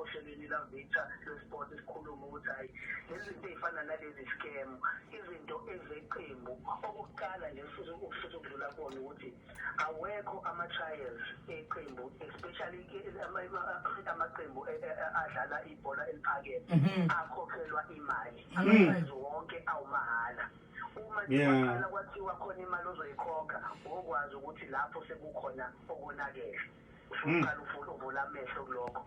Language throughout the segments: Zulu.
ohlelweni la Victor le sport isikhuluma ukuthi hayi lezinto ezifana nalezi scam izinto ezeqembu okuqala nje futhi ukufisa ukudlula kubona ukuthi awekho ama trials eqembu especially amaqembu e, e, e, adlala ibhola eliphakeme mhm. akhokhelwa imali mhm. amaprize wonke awumahhala uma kuqala kwathiwa khona imali ozoyikhokha wokwazi ukuthi lapho sekukhona okonakele usuqala mm. ufuna uvula amehlo kulokho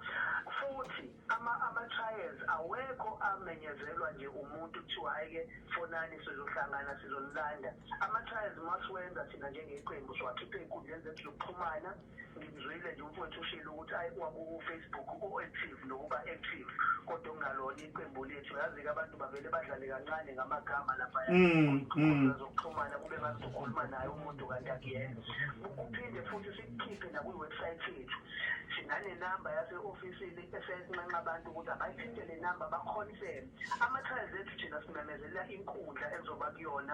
futhi ama ama trials awekho amenyezelwa nje umuntu kuthiwa ayike fonani sizohlangana sizolanda ama trials masiwenza thina njengeqembu siwakhiphe enkundleni zethu zokuxhumana ngimzwile nje umfowethu ushilo ukuthi ayi kwaku Facebook u active nokuba active kodwa ungalona iqembu lethu yazi-ke abantu bavele badlale kancane ngamagama laphaya mm, mm. zokuxhumana kube ngathi sokhuluma naye umuntu kanti akuyena kuphinde futhi sikukhiphe nakwiwebsayithi yethu sinanenamba yase-ofisini esesinxenxa abantu ukuthi abayithinte le namba bakhonifeme ama-trials ethu thina simemezelela inkundla ezoba kuyona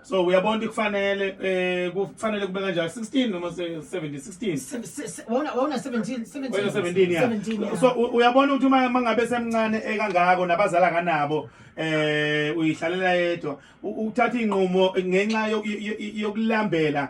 so uyabona ukuthi kufanele eh kufanele kube kanjani 16 noma 17 wona wona 17 17 ya 17 ya so u- uyabona ukuthi uma uma ngabe semncane ekangako nabazali akanabo eh uyihlalela yedwa u- uthatha inqumo ngenxa yo- yo- yo- yokulambela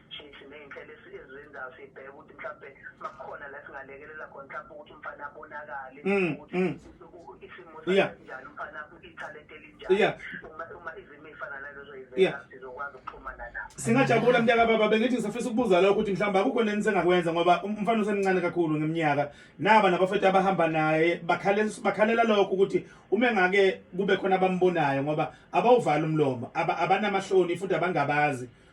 shintshi ney'nhlelo esizenzayo sibheke ukuthi mhlawumbe makukhona la singalekelela khona mhlawumbe ukuthi umfana abonakale mm, ukuthi mm. isimo sinjani umfana ithalente elinjani uma izimo ey'fana nalezo yivela sizokwazi ukuxhumana nabo singajabula mntaka baba bengithi ngisafisa ukubuza lokho ukuthi mhlawumbe akukho neni sengakwenza ngoba um, umfana usemncane kakhulu ngeminyaka naba nabafethu abahamba naye bakhalela lokho ukuthi uma engake kube khona abambonayo ngoba abawuvali umlomo abanamahloni futhi abangabazi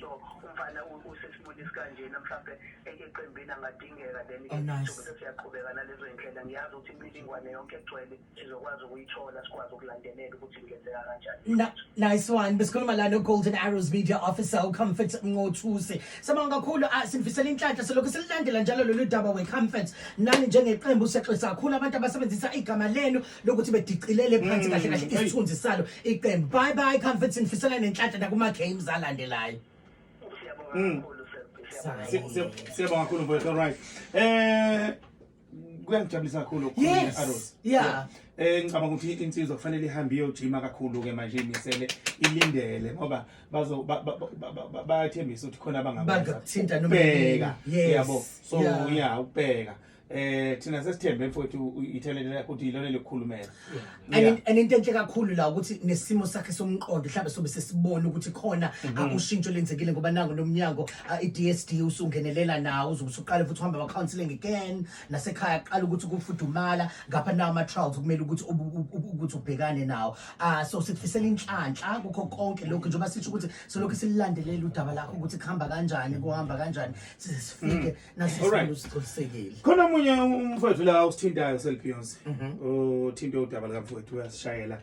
so umfana usesimweni esikanjena mhlawumbe eqembini angadingeka then oh, ke sobe siyaqhubeka nalezo indlela ngiyazi ukuthi imilingwane yonke egcwele sizokwazi ukuyithola sikwazi ukulandelela ukuthi kungenzeka kanjani nice one besikhuluma la no-golden arrows media officer ucomfort nqothusi sabonga kakhulu ah, sinifisela inhlanhla selokhu sililandela njalo lolu daba wecomfort nani njengeqembu sexwisa kakhulu abantu abasebenzisa igama lenu lokuthi bedicilele phansi kahle kahle isithunzi salo iqembu bye bye comforts ngifisela nenhlanhla nakuma games alandelayo Mm. Si- si- siyabonga kakhulu mfowethu alright eh kuyangijabulisa kakhulu ukukhuluma Yes, ne-Arrows. yeah. eh ngicabanga ukuthi insizwa kufanele ihambe iyojima kakhulu ke manje imisele ilindele ngoba bazo ba- ba- ba- ba- ba- bayathembisa ukuthi khona abangakwenza. Bangakuthinta noma Ukubheka, yini. Yes, yabo so yeah. yeah ukubheka eh thina sesithembe mfowethu ithalente lakho ukuthi ilona elikhulumela And and into enhle kakhulu la ukuthi nesimo sakhe somqondo mhlawumbe sobe sesibona ukuthi khona Mhm. akushintsho lenzekile ngoba nango nomnyango ah, i-DSD usungenelela nawo uzobe usuqala futhi uhamba ama-counselling again nasekhaya qala ukuthi kufudumala ngapha nawo ama-trials kumele ukuthi ubu- ubu- ubu- ukuthi ubhekane nawo um so sikufisela inhlanhla kukho konke lokhu njengoba sisho ukuthi solokhu sililandelela udaba lakho ukuthi kuhamba kanjani kuhamba kanjani size sifike Nasi Alright. sifuna usiqinisekile. khona omunye umfowethu la usithintayo selibeyonce uthinte udaba likamfowethu uyasishayela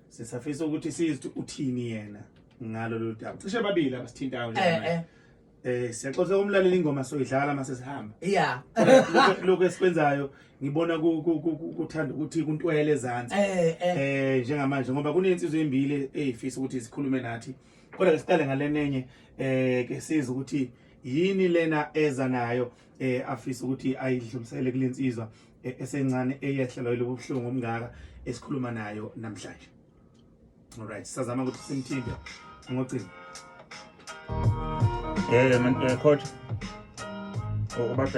sisafisa ukuthi sizi ukuthi uthini yena ngalo lolu daba cishe babili abasithintayo Eh njengamanje eh. eh siyaxoxa kumlalela ingoma soyidlala mase sihamba Yeah. Lokhu- lokhu esikwenzayo ngibona ku- ku- ku- ku- kuthanda ukuthi kuntwele ezansi Eh eh. eh njengamanje ngoba kunensizwe embili eyifisa ukuthi zikhulume nathi kodwa ke siqale ngalenenye eh ke siza ukuthi yini lena eza nayo eh afisa ukuthi ayidlulisele kulensizwa eh, esencane eyehlelwa yilobu buhlungu omngaka esikhuluma nayo namhlanje alright sazama ukuthi simthinde ngocingo eh man eh, coach ubadla